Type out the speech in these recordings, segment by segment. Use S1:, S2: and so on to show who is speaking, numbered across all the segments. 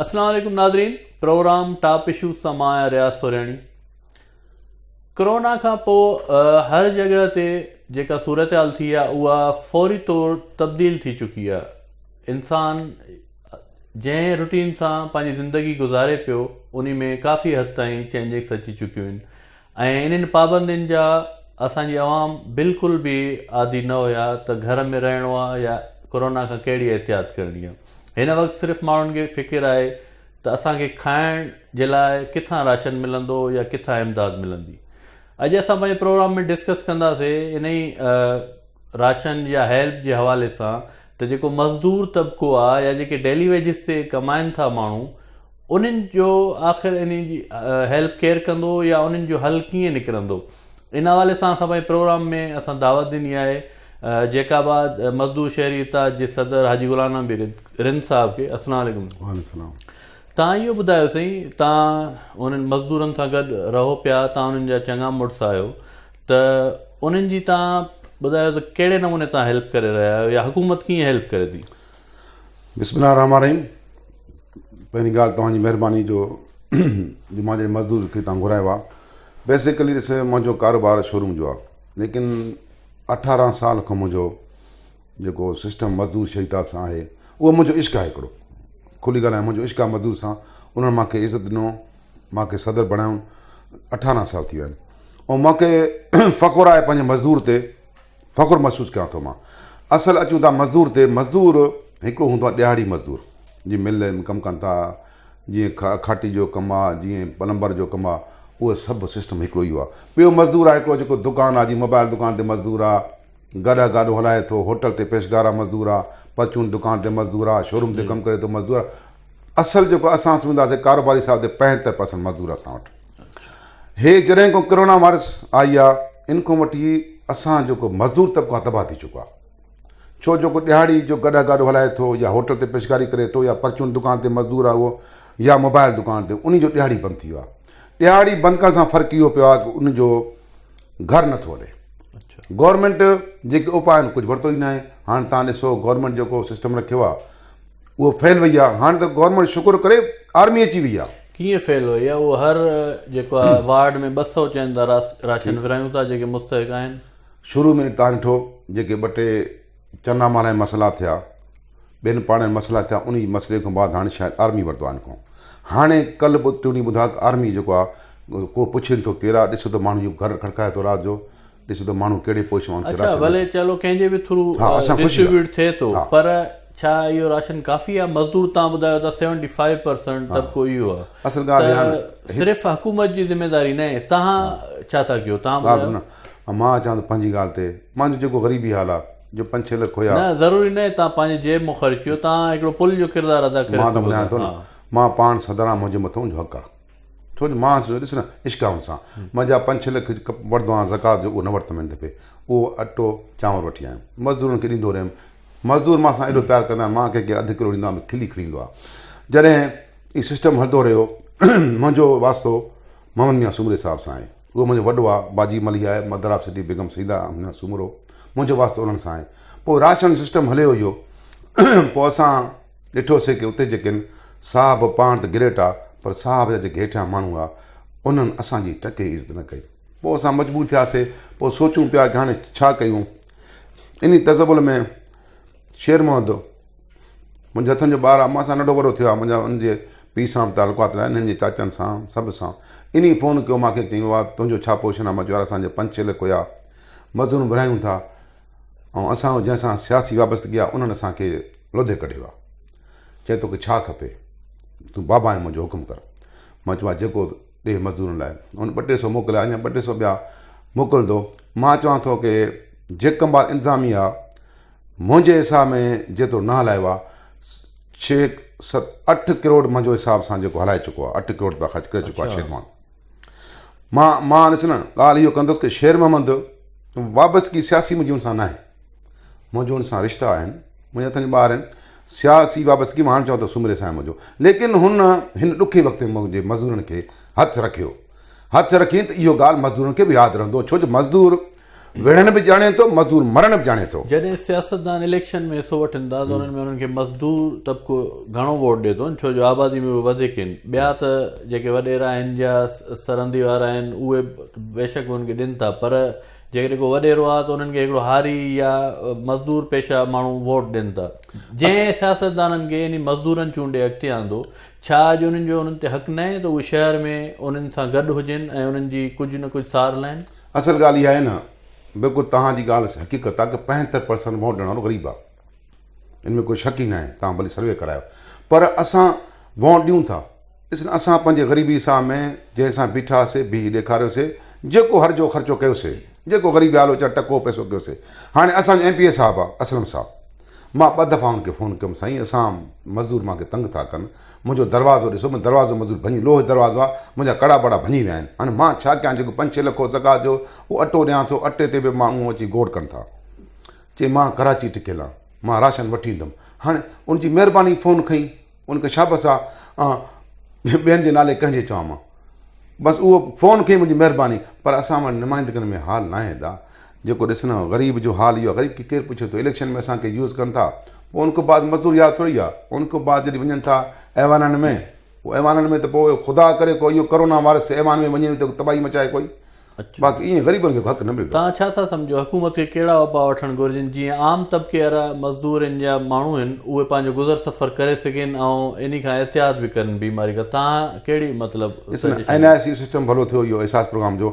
S1: السلام عليڪم ناظرين پروگرام ٽاپ اشو سان مان آهيان رياض سورياڻي ڪرونا کان پوء هر جڳهه تي جيڪا صورتحال ٿي آهي اها فوري طور تبديل ٿي چڪي آهي انسان جنهن روٽين سان پنهنجي زندگي گذاري پيو انهي ۾ ڪافي حد تائين چينجنگس اچي چڪيون هين ۽ انهن پابندين جا اسان جي عوام بلڪل به عادي نه هيا ته گهر ۾ رهڻو آ يا ڪورونا کان ڪهڙي احتياط ڪرڻي آ هن وقت صرف ماڻهن کي فڪر آهي ته اسان کي کائڻ جي لاء ڪٿان راشن ملندو يا ڪٿان امداد ملندي اڄ اسان پنهنجي پروگرام ۾ ڊسڪس ڪنداسي انهي راشن يا هيلپ جي حوالي سان ته جيڪو مزدور طبقو آ يا جيڪي ڊيلي ويجز تي ڪمائن ٿا ماڻهو انهن جو آخر انهن جي هيلپ ڪير ڪندو يا انهن جو حل ڪيئن نڪرندو ان حوالي سان اسان پنهنجي پروگرام ۾ اسان دعوت ڏني آهي جيڪ آباد مزدور شهري اتحاد جي صدر حاجي غلام نبي رند صاحب کي السلام عليڪم السلام تان اهو ٻڌايو سائين تان انهن مزدورن سان گڏ رهو پيا تان انهن جا چڱا مڙس آهيو ته انهن جي تان ٻڌايو ته ڪهڙي نموني تان هيلپ ڪري رهيا آهيو يا حڪومت ڪيئن هيلپ ڪري ٿي. بسم الله
S2: الرحمٰن الرحيم پهرين ڳالهه توهان جي مهرباني جو جو مان جهڙي مزدور کي توهان گهرايو آهي بيسڪلي ڏسي منهنجو ڪاروبار شوروم جو آهي ليڪن اٺارهن سال کان منهنجو جيڪو سسٽم مزدور شريدار سان آهي اهو منهنجو عشق آهي هڪڙو کلي ڳالهه آهي منهنجو عشق آهي مزدور سان انهن مانکي عزت ڏنو مان کي صدر بڻايون اٺارهن سال ٿي ويا آهن ۽ مان کي فخر آهي پنهنجي مزدور تي فخر محسوس ڪيان ٿو مان اصل اچون ٿا مزدور تي مزدور هڪڙو هوندو آهي ڏيهاڙي مزدور جي مل ۾ ڪم ڪن ٿا جيئن کاٽي جو ڪم آ جيئن پلمبر جو ڪم آ اهو سڀ سسٽم هڪڙو ئي هو ٻيو مزدور آ هڪڙو جيڪو دڪان آ جي موبائل دڪان تي مزدور آ گاڏا گاڏو هلائي ٿو، هوٽل تي پيشگار آ مزدور آ، پرچون دڪان تي مزدور آ، شوروم تي ڪم ڪري ٿو مزدور آ، اصل جيڪو اسان سمجهنداسين ڪاروباري صاحب تي پنجهتر پرسنٽ مزدور آ اسان وٽ. هي جڏهن کان ڪرونا وائرس آئي آ ان کان وٺي اسان جيڪو مزدور طبقو آ تباهه ٿي چڪو آ. ڇو جيڪو ڏهاڙي جو گاڏا گاڏو هلائي ٿو يا هوٽل تي پيشگاري ڪري ٿو يا پرچون دڪان تي مزدور آ اهو يا موبائل دڪان تي انهي جو ڏهاڙي بند ٿي ويو آ. ڏهاڙي بند ڪرڻ سان فرق اهو پيو آ ڪه ان جو گهر نه ٿو ڏي. گورنمينٽ جيڪي اپاء آهن ڪجهه ورتو ئي ناهي هاڻ تان ڏسو گورنمينٽ جيڪو سسٽم رکيو آهي اهو فيل وئي آهي هاڻ ته گورنمينٽ شڪر ڪري آرمي اچي وئي آهي. ڪيئن فيل وئي آهي اهو
S1: هر جيڪو آهي وارڊ ۾ ٻه سئو چين ٿا راشن ورهايون ٿا جيڪي مستحق آهن. شروع ۾ تان ڏٺو
S2: جيڪي ٻه ٽي. چنا مال ۽ مسئلا ٿيا ٻين پاڙن ۾ مسئلا ٿيا انهي مسئلي کان بعد هاڻي شايد آرمي ورتو آهي ان کان هاڻي ڪل به ٽيوني ٻڌا ته آرمي جيڪو آهي ڪو پڇي نٿو ڪير آهي ڏسو ته ماڻهو جو گهر کڙڪائي ٿو رات جو ڏسو ته ماڻهو ڪهڙي پوش ماڻهو کي اڇا راشن ڀلي چلو ڪنهن جي به
S1: ٿرو ها اسان خوش ٿيا ڊسٽريبيوٽ ٿئي ٿو ها پر ڇا اهو راشن ڪافي آهي مزدور تان ٻڌايو ته سيونٽي فائيو پرسنٽ ها طبقو اهو آهي اصل ڳالهه ته ريان
S2: هڪ صرف حڪومت جي
S1: ذميداري ناهي تهان ها ڇا ٿا ڪيو تهان ڳالهه ٻڌايو نه ۽ مان اچان ٿو پنهنجي
S2: ڳالهه تي. مان جو جيڪو غريبي حال آ، جو پنج ڇهه لک هيا. نه، ضروري ناهي تان پنهنجي
S1: جيب مون خرچ ڪيو، تان هڪڙو پل جو ڪردار ادا ڪري سگهو ٿا. مان ته ٻڌايان ٿو نه،
S2: مان پاڻ سڌران آ، منهنجي مٿو منهنجو حق آ. ڇو جو مان سوچيو ڏس نه، اشڪائون سان، مان جا پنج ڇهه لک وٺدو آهيان زڪوات جو، اهو نه ورتم هن دفعي. اهو اٽو، چانور وٺي آيم. مزدورن کي ڏيندو رهيم. مزدور مان سان ايڏو پيار ڪندا آهن، مان ڪنهن کي اڌ ڪلو ڏيندو آهيان ته کلي کڙي ايندو آ. جڏهن هي سسٽم هلندو رهيو، منهنجو واسطو محمد ميان سومري صاحب سان آهي. اهو منهنجو وڏو آء، باجي ملهي آء، mother of city Begum Syeda Amna Soomro, منهنجو واسطو انهن سان آهي. پوء راشن سسٽم هليو اهو. پوء اسان ڏٺوسي ڪي اتي جيڪي آهن، صاحب پاڻ ته گريٽ آ، پر صاحب جا جيڪي هيٺيان ماڻهو آ، انهن اسان جي ٽڪي ئي عزت نه ڪئي. پوء اسان مجبور ٿياسي. پوء سوچون پيا ڪي هاڻي ڇا ڪيون. انهي تذبذل ۾. شير محمد، منهنجي هٿن جو ٻار آ، مان سان ننڍو وڏو ٿيو آ، منهنجا هن جي پيء سان به تعلقات رهيا آهن، هن جي چاچن سان، سڀ سان. انهيء فون ڪيو مان کي چيو آ ته تنهنجو ڇا پوزيشن آ مان چيو يار اسان جي پنج ڇهه لک هيا، مزدورون ورهايون ٿا ۽ اسان جو جنهن سان سياسي وابستگي آ انهن اسان کي لوڌي ڪڍيو آ. چيائين توکي ڇا کپي؟ تون بابا آهين منهنجو حڪم ڪر. مان چيو آ جيڪو ڏي مزدورن لاء. هن ٻه ٽي سو موڪليا اڃا ٻه ٽي سو ٻيا موڪلندو. مان چوان ٿو ڪي جيڪب آباد انتظاميه آ، منهنجي حساب ۾ جيترو نه هلايو آهي ڇهه ست اٺ ڪروڙ منهنجو حساب سان جيڪو هلائي چڪو آهي اٺ ڪروڙ روپيا خرچ ڪري چڪو آهي شير محمد مان مان ڏس نه ڳالهه اهو ڪندس ڪي شير محمد وابستگي سياسي منهنجي ان سان ناهي منهنجو ان سان رشتا آهن منهنجا اتن ٻار آهن سياسي وابستگي مان هاڻ چوان ته سومري سان منهنجو ليڪن هن هن ڏکي وقت ۾ منهنجي مزدورن کي هٿ رکيو هٿ رکين ته اهو ڳالهه مزدورن کي به ياد رهندو ڇو جو مزدور وڙهڻ به ڄاڻي ٿو، مزدور مرڻ به ڄاڻي ٿو. جڏهن سياستدان
S1: اليڪشن ۾ حصو وٺن ٿا ته انهن ۾ انهن کي مزدور طبقو گهڻو ووٽ ڏي ٿو ڇو جو آبادي ۾ اهي وڌيڪ آهن ٻيا ته جيڪي وڏيرا آهن يا سرندي وارا آهن اهي بيشڪ انهن کي ڏين ٿا پر جيڪڏهن ڪو وڏيرو آهي ته انهن کي هڪڙو هاري يا مزدور پيشه ماڻهو ووٽ ڏين ٿا جنهن سياستدانن کي يعني مزدورن چونڊي اڳتي آندو ڇا اڄ انهن جو انهن تي حق ناهي ته اهي شهر ۾ انهن سان گڏ هجن ۽ انهن جي ڪجهه نه ڪجهه سار لهن اصل ڳالهه اها آهي نه
S2: بلڪل توهان جي ڳالهه حقيقت آهي ڪه پنجهتر پرسنٽ ووٽ ڏيڻ وارو غريب آهي ان ۾ ڪوئي شڪ ئي ناهي توهان ڀلي سروي ڪرايو پر اسان ووٽ ڏيون ٿا ڏسن اسان پنهنجي غريبي ساهه ۾ جنهن سان بيٺا هئاسي بيهي ڏيکاريو سي جيڪو هر جو خرچو ڪيو سي جيڪو غريب حال ويچار ٽڪو پيسو ڪيو سي هاڻي اسان جو ايم پي اي صاحب آهي اسلم صاحب مان ٻه دفعا ان کي فون ڪيم سائين اسان مزدور مان کي تنگ ٿا ڪن منهنجو دروازو ڏسو، منهنجو دروازو مضبوط ڀڃي لوهه جو دروازو آهي، منهنجا ڪڙا ٻڙا ڀڃي ويا آهن، هاڻي مان ڇا ڪيان جيڪو پنج ڇهه لکو زڪوات جو اهو اٽو ڏيان ٿو، اٽي تي به ماڻهو اچي گوڙ ڪن ٿا، چي مان ڪراچي ٽڪيل آهيان، مان راشن وٺي ايندم، هاڻي ان جي مهرباني فون کنئي، ان کي شابس آ، آئون ٻين جي نالي ڪنهن جي چوان مان، بس اهو فون کنئي منهنجي مهرباني، پر اسان وٽ نمائندگين ۾ حال ناهي ادا، جيڪو ڏسڻ غريب جو حال اهو آهي غريب کي ڪير پڇي ٿو اليڪشن ۾ اسان کي يوز ڪن ٿا پوء ان کان بعد مزدور ياد ٿوري آهي ان کان بعد جڏهن وڃن ٿا ايوانن ۾ پوء ايوانن ۾ ته پوء خدا ڪري ڪو اهو ڪرونا وائرس ايوان ۾ وڃي ته تباهي مچائي ڪوئي باقي ائين غريبن کي حق نه ملندو توهان ڇا ٿا سمجهو حڪومت
S1: کي ڪهڙا اپاء وٺڻ گهرجن جيئن عام طبقي وارا مزدور هن جا ماڻهو هن اهي پنهنجو گذر سفر ڪري سگهين ۽ انهي کان احتياط به ڪرن بيماري کان توهان ڪهڙي مطلب سجيشن ڏيندا. اين آء سي سسٽم
S2: ڀلو ٿيو اهو احساس پروگرام جو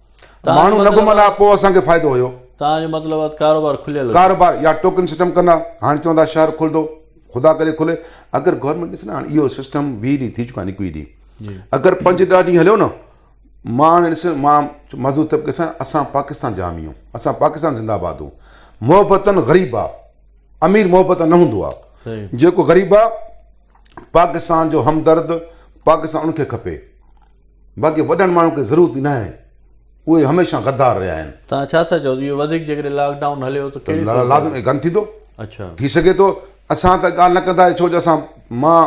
S2: ماڻهو نه گهمندا ها پوء اسان کي فائدو هيو. توهان جو مطلب آهي ته
S1: ڪاروبار کليل هجي. ڪاروبار يا ٽوڪن سسٽم
S2: ڪندا هاڻي چون ٿا شهر کلندو خدا ڪري کلي اگر گورنمينٽ ڏسي نه هاڻي اهو سسٽم ويهه ڏينهن ٿي چڪا آهن ايڪويهه ڏينهن اگر پنج ڏهه ڏينهن هليو نه مان هاڻي ڏس مان مزدور طبقي سان اسان پاڪستان جا آمي آهيون اسان پاڪستان زنده آباد هو محبتن غريب آ امير محبتن نه هوندو آ جيڪو غريب آ پاڪستان جو همدرد پاڪستان ان کي کپي باقي وڏن ماڻهن کي ضرورت ئي ناهي اهي هميشه غدار رهيا آهن. توهان ڇا ٿا چئو ته اهو
S1: وڌيڪ جيڪڏهن لاڪ ڊائون هليو ته ڪهڙي صورت ۾ لازمي گند ٿيندو.
S2: اڇا. ٿي سگهي
S1: ٿو
S2: اسان ته ڳالهه نه ڪنداسين ڇو جو اسان مان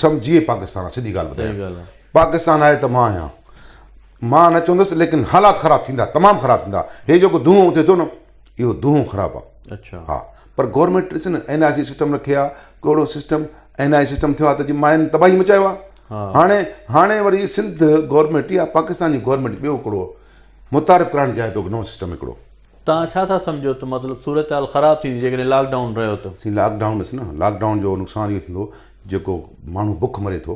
S2: سم جي پاڪستان آهي سڌي ڳالهه ٻڌايان پاڪستان آهي ته مان آهيان مان نه چوندس ليڪن حالات خراب ٿيندا تمام خراب ٿيندا هي جيڪو دونهون اٿي ٿو نه اهو دونهون خراب آ. اچھا ها پر
S1: گورنمينٽ
S2: ڏسي نه اين آء سي سسٽم رکي آ ڪهڙو سسٽم اين آء سسٽم ٿيو آ ته جي ماين تباهي مچايو آ هاڻي هاڻي وري سنڌ گورنمينٽ يا پاڪستان جي گورنمينٽ ٻيو هڪڙو متعارف ڪرائڻ چاهي ٿو نو سسٽم هڪڙو توهان ڇا ٿا
S1: سمجهو ته مطلب صورتحال خراب ٿيندي جيڪڏهن لاڪ ڊائون رهيو ته سائين لاڪ ڊائون ڏس نه لاڪ
S2: ڊائون جو نقصان اهو ٿيندو جيڪو ماڻهو بک مري ٿو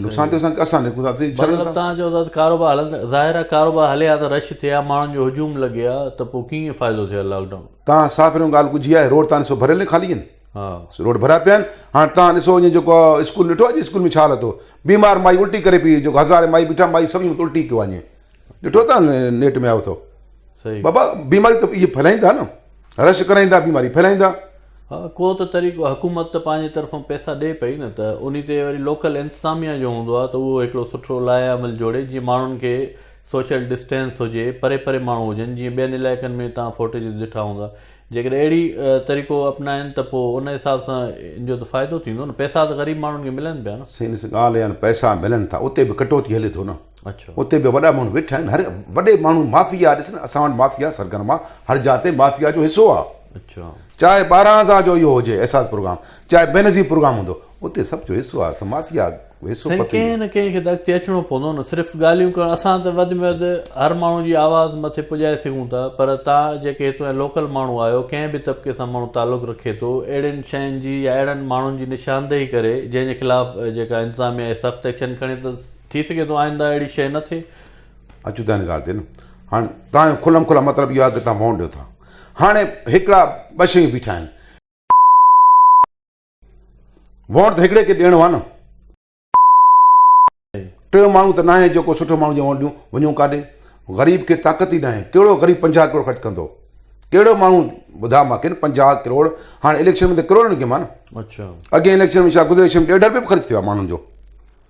S2: نقصان ٿيو سان اسان نڪون ٿا مطلب تان جو ذات
S1: ڪاروبار هلن ظاهر آ ڪاروبار هلي آ ته رش ٿي آ ماڻهن جو هجوم لڳي آ ته پو ڪيئن فائدو ٿي آ لاڪ ڊائون تان صاف رهو ڳالهه ڪجهي آ
S2: روڊ تان سو ڀريل نه خالي آهن ها روڊ ڀرا پيا آهن هاڻ تان ڏسو اڃ جيڪو اسڪول ڏٺو اڄ اسڪول ۾ ڇا هلتو بيمار مائي الٽي ڪري پي جيڪو هزار مائي بيٺا مائي سمجهه الٽي ڪيو اڃ ڏٺو تان نيٽ ۾ آيو اٿو صحيح بابا بيماري ته اهي ڦهلائين ٿا نه رش ڪرائين ٿا بيماري ڦهلائين ٿا ها ڪو
S1: ته طريقو حڪومت ته پنهنجي طرفان پئسا ڏئي پئي نه ته انهي تي وري لوڪل انتظاميه جو هوندو آهي ته اهو هڪڙو سٺو لائحه عمل جوڙي جيئن ماڻهن کي سوشل ڊسٽينس هجي پري پري ماڻهو هجن جيئن ٻين علائقن ۾ تان فوٽيجز ڏٺا هوندا جيڪڏهن اهڙي طريقو اپنائين ته پو ان حساب سان ان جو ته فائدو ٿيندو نه پئسا ته غريب ماڻهن کي ملن پيا نه سائين ڏس ڳالهه اها آهي نه پئسا
S2: ملن ٿا اتي به ڪٽوتي هلي ٿو نه اتي به وڏا
S1: ماڻهو ويٺا
S2: آهن هر وڏي ماڻهو مافيا ڏسن اسان وٽ مافيا سرگرم آ هر جاء تي مافيا جو حصو آ چاهي ٻارهن هزار جو اهو هجي احساس پروگرام چاهي بينظير پروگرام هوندو اتي سڀ جو حصو آ مافيا حصو پتي ڪنهن نه ڪنهن کي ته
S1: اڳتي اچڻو پوندو نه صرف ڳالهيون ڪرڻ اسان ته وڌ ۾ وڌ هر ماڻهو جي آواز مٿي پڄائي سگهون ٿا پر تان جيڪي هتو جا لوڪل ماڻهو آهيو ڪنهن به طبقي سان ماڻهو تعلق رکي ٿو اهڙين شين جي يا اهڙن ماڻهن جي نشاندهي ڪري جنهن جي خلاف جيڪا انتظاميا آهي سخت ايڪشن کڻي ته ٿي سگهي ٿو آئنده اهڙي شيء نه ٿئي. اچون ٿا ان
S2: ڳالهه تي نه هاڻي توهان جو کلم کلا مطلب اهو آهي ڪي توهان مون ڏيو ٿا هاڻي هڪڙا ٻه شيون بيٺا آهن وونٽ ته هڪڙي کي ڏيڻو آهي نه ٽيون ماڻهو ته ناهي جيڪو سٺو ماڻهو جي وونٽ ڏيون وڃون ڪاڏي غريب کي طاقت ئي ناهي ڪهڙو غريب پنجاهه ڪروڙ خرچ ڪندو ڪهڙو ماڻهو ٻڌاء ماکي نه پنجاهه ڪروڙ هاڻي اليڪشن ۾ ته ڪروڙن کي مان اچا اڳين اليڪشن
S1: ۾ شايد گذري
S2: اليڪشن ڏيڍ رپيو به خرچ ٿيو آهي ماڻهن جو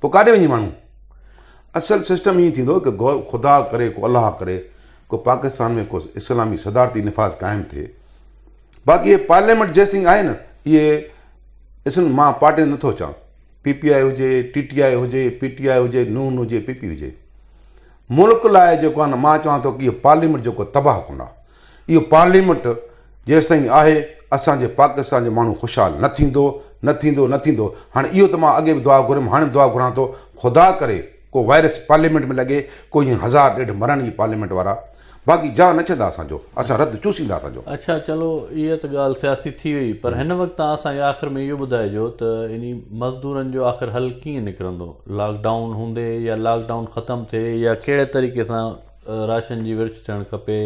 S2: پوء ڪاڏي وڃي ماڻهو؟ اصل سسٽم ائين ٿيندو ته ڪو خدا ڪري، ڪو الله ڪري، ڪو پاڪستان ۾ ڪو اسلامي صدارتي نفاذ قائم ٿئي. باقي هي پارليامينٽ جيستائين آهي نه اهي اسن مان پارٽين نٿو اچان، پي پي آء هجي، ٽي ٽي آء هجي، پي ٽي آء هجي، نون هجي، پي پي هجي. ملڪ لاء جيڪو آهي نه مان چوان ٿو ڪي پارليامينٽ جيڪو تباهه ڪن آهي. اهو پارليامينٽ جيستائين آهي اسان جي پاڪستان جو ماڻهو خوشحال نه ٿيندو نه ٿيندو نه ٿيندو هاڻي اهو ته مان اڳي به دعا گهريم هاڻي به دعا گهران ٿو خدا ڪري ڪو وائرس پارليامينٽ ۾ لڳي ڪو ائين هزار ڏيڍ مرن اهي پارليامينٽ وارا باقي جان نه ڇندا اسان جو اسان رت چوسيندا اسان جو اڇا چلو اهي
S1: ته ڳالهه سياسي ٿي وئي پر هن وقت تان اسان کي آخر ۾ اهو ٻڌائجو ته انهي مزدورن جو آخر حل ڪيئن نڪرندو لاڪ ڊائون هوندي يا لاڪ ڊائون ختم ٿئي يا ڪهڙي طريقي سان راشن جي ورڇ ٿيڻ کپي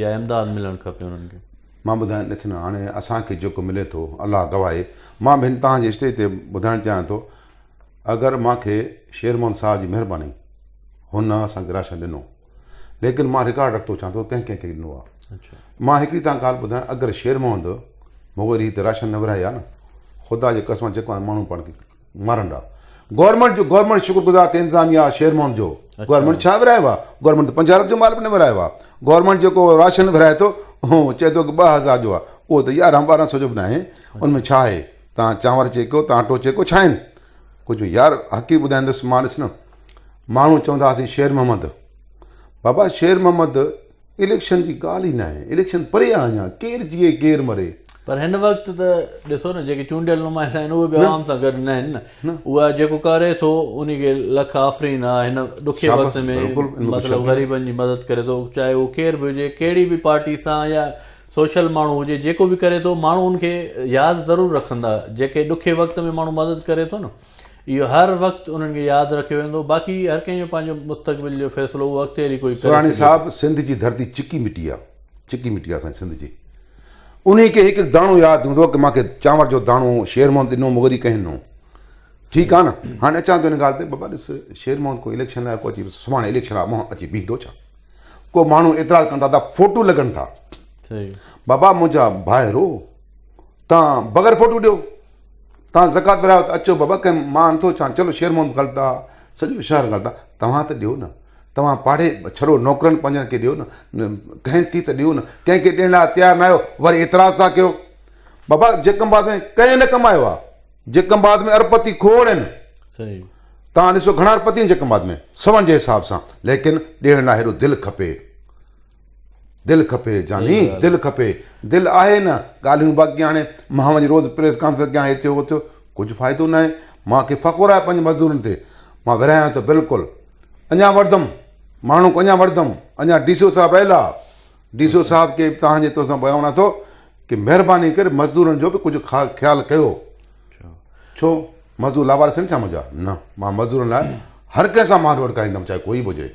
S1: يا امداد ملڻ کپي انهن کي. مان ٻڌايان ڏس نه
S2: هاڻي اسان کي جيڪو ملي ٿو الله گواهه آهي مان به هن تان جي اسٽيج تي ٻڌائڻ چاهيان ٿو اگر مان کي شير محمد صاحب جي مهرباني هن نه اسان کي راشن ڏنو ليڪن مان رڪارڊ رکتو چاهيان ٿو ڪنهن ڪنهن کي ڏنو آهي اڇا مان هڪڙي تان
S1: ڳالهه
S2: ٻڌايان اگر شير محمد مغوري هتي راشن نه ورهائي ها نه خدا جي قسم جيڪو هاڻي ماڻهو پاڻ کي مرنڊا گورنمينٽ جو گورنمينٽ شڪر گذار ته انتظاميه شير محمد جو گورنمينٽ ڇا ورايو آ گورنمينٽ ته پنجارت جو مال به نه ورايو آ گورنمينٽ جيڪو راشن ورائي ٿو هو چئي ٿو ڪه 2000 جو آ اهو ته يارهن ٻارهن سو جو به ناهي ان ۾ ڇا آهي تان چانور چيڪو تان اٽو چيڪو ڇا آهن ڪجهه يار حقيقت ٻڌائيندس مان ڏس نه ماڻهو چوندا هاسين شير محمد بابا شير محمد اليڪشن جي ڳالهه ئي ناهي، اليڪشن پري آهي اڃا، ڪير جيئي ڪير مري. پر هن وقت
S1: ته ڏسو نه جيڪي چونڊيل نمائندا آهن اهي به عوام سان گڏ ناهن نه، اها جيڪو ڪري ٿو انهي کي لک آفرين آ هن ڏکي وقت ۾ مطلب غريبن جي مدد ڪري ٿو چاهي هو ڪير به هجي ڪهڙي به پارٽي سان يا سوشل ماڻهو هجي جيڪو به ڪري ٿو ماڻهو ان کي ياد ضرور رکندا جيڪي ڏکي وقت ۾ ماڻهو مدد ڪري ٿو نه. اهو هر وقت انهن کي ياد رکيو ويندو. باقي هر ڪنهن جو پنهنجو مستقبل جو فيصلو اهو اڳتي هلي ڪوئي ڪري سورهاڻي سگهي صاحب ٿو. سنڌ جي
S2: ڌرتي چڪي مٽي آ چڪي مٽي آ اسان جي سنڌ جي انهي کي هڪ هڪ داڻو ياد هوندو ڪي مانکي چانور جو داڻو شير محمد ڏنو مون وري ڪهين نو ٺيڪ آ نه هاڻي اچان ٿو ان ڳالهه تي بابا ڏس شير محمد ڪو اليڪشن لاء ڪو اچي سڀاڻي اليڪشن لاء مهان اچي بيهندو ڇا ڪو ماڻهو اعتراض ڪن ٿا ته فوٽو لڳن ٿا صحيح بابا منهنجا ڀائرو تان بغير فوٽو ڏيو توهان زڪوات ورايو ته اچو بابا ڪنهن مان انڌو ڇا چلو شير محمد غلطا سڄو شهر غلطا توهان ته ڏيو نه توهان پاڙهي ڇڙو نوڪرن پنهنجن کي ڏيو نه ڪنهن کي ته ڏيو نه ڪنهن کي ڏيڻ لاء تيار نه آهيو وري اعتراض ٿا ڪيو بابا جيڪم بعد ۾ ڪنهن نه ڪمايو آهي جيڪم بعد ۾ ارپتي کوڙ آهن صحيح
S1: توهان ڏسو
S2: گهڻا ارپتي آهن جيڪم بعد ۾ سون جي حساب سان ليڪن ڏيڻ لاء هيڏو دل کپي دل کپي جاني دل کپي دل آهي نه ڳالهيون باقي هاڻي مان وڃي روز پريس ڪانفرنس ڪيان هي ٿيو هو ٿيو ڪجهه فائدو نه آهي مان کي فخر آهي پنهنجي مزدورن تي مان ورهايان ٿو بلڪل اڃا وڙدم ماڻهو اڃا وڙدم اڃا ڊي سي او صاحب رهيل آهي ڊي سي او صاحب کي تهان جي تو سان بيان ونا ٿو ڪي مهرباني ڪري مزدورن جو به ڪجهه خيال ڪيو ڇو مزدور لاوارس آهن ڇا منهنجا نه مان مزدورن لاء هر ڪنهن سان مان روڊ ڪرائيندم چاهي ڪوئي به هجي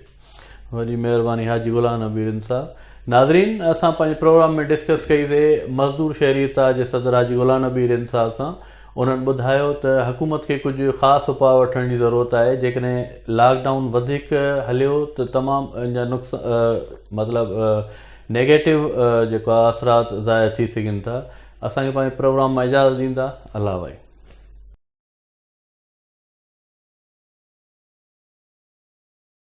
S2: وڏي
S1: مهرباني حاجي غلام نبي رند صاحب ناظرين اسان پنهنجي پروگرام ۾ ڊسڪس ڪئي سي مزدور شهري اتحاد جي صدر حاجي غلام نبي رند صاحب سان انهن ٻڌايو ته حڪومت کي ڪجهه خاص اپاء وٺڻ جي ضرورت آهي جيڪڏهن لاڪ ڊائون وڌيڪ هليو ته تمام ان جا نقص مطلب نيگيٽو جيڪو آهي اثرات ظاهر ٿي سگهن ٿا اسان کي پنهنجي پروگرام مان اجازت ڏيندا الله بھائي